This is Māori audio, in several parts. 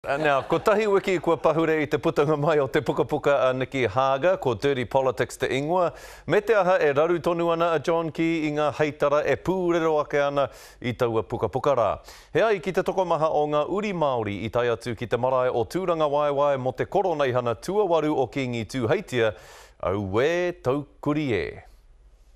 Nā, kotahi wiki kua pahure i te putanga mai o te pukapuka a Nicky Hager, ko Dirty Politics te ingoa, me te aha e raru tonu ana a John Key i ngā heitara e pūrero ake ana i taua pukapuka rā. He ai ki te tokomaha o ngā uri Māori i tae atu ki te marae o Tūrangawaewae mō te koroneihana tuawaru o Kīngi Tūheitia, auē taukuri e!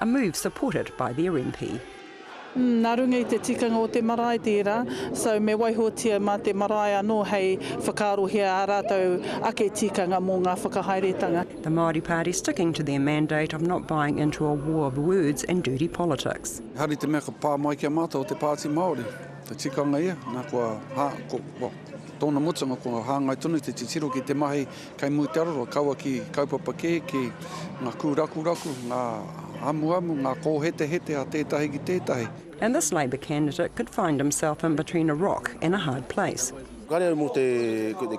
A move supported by the RMP. Umm, nā runga i te tikanga o te marae tērā, so me waihotia mā te marae anō hei whakaarohia ā rātou ake tikanga mō ngā whakahaeretanga. The Māori Party sticking to their mandate of not buying into a war of words and dirty politics. Ehara i te mea ka pā mai ki a mātou te Pāti Māori, te tikanga ia, nā kua, well, tōna mutunga kua hāngai tonu te titiro ki te mahi Kei muri te aroro, kaua ki kaupapa kē, ki ngā kūrakuraku, ngā amuamu, ngā kōhetehete a tētahi ki tētahi. And this Labour candidate could find himself in between a rock and a hard place. Kāre au mō te,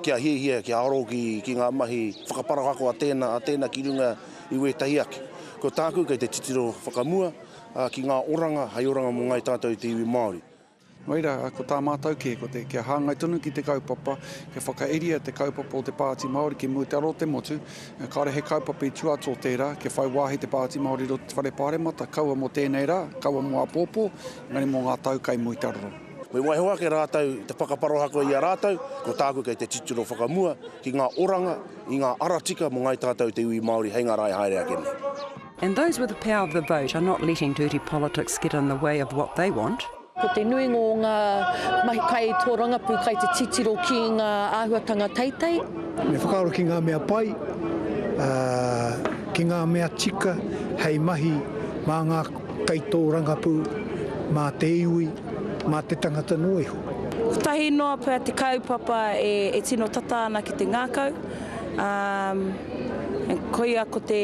kia hiahia, kia aro ki, ki ngā mahi whakaparau ako a tēnā, a tēnā ki runga i wētahi ake. Ko tāku kei te titiro whakamua ki ngā oranga, hei oranga mō ngāi tātou te iwi Māori. Nō reira, ko tā mātou kē, ko te, kia hāngai tonu ki te kaupapa, kia whakairia te kaupapa o te Pāti Māori ki mua te aro o te motu, kāore he kaupapa i tua atu o tērā, kia whai wāhi te Pāti Māori i roto i te Whare Pāremata, kaua mō tēnei rā, kaua mō āpōpō, engari mō ngā tau kai muri te aro. Me waiho ake rātou te whakaparoha koe i a rātou, ko tāku kei te titiro whakamua ki ngā oranga i ngā ara tika mō Ngāi Tātou te iwi Māori hei ngā rā e haere ake nei. And those with the power of the vote are not letting dirty politics get in the way of what they want. Ko te nuinga o ngā mahi kai tōrangapū kai te titiro ki ngā āhuatanga teitei. Me whakaaro ki ngā mea pai, ā, ki ngā mea tika hei mahi mā ngā kaitōrangapū, mā te iwi, mā te tangata noa iho. Kotahi noa pea te kaupapa e, e tino tata ana ki te ngākau, ā, koia ko te.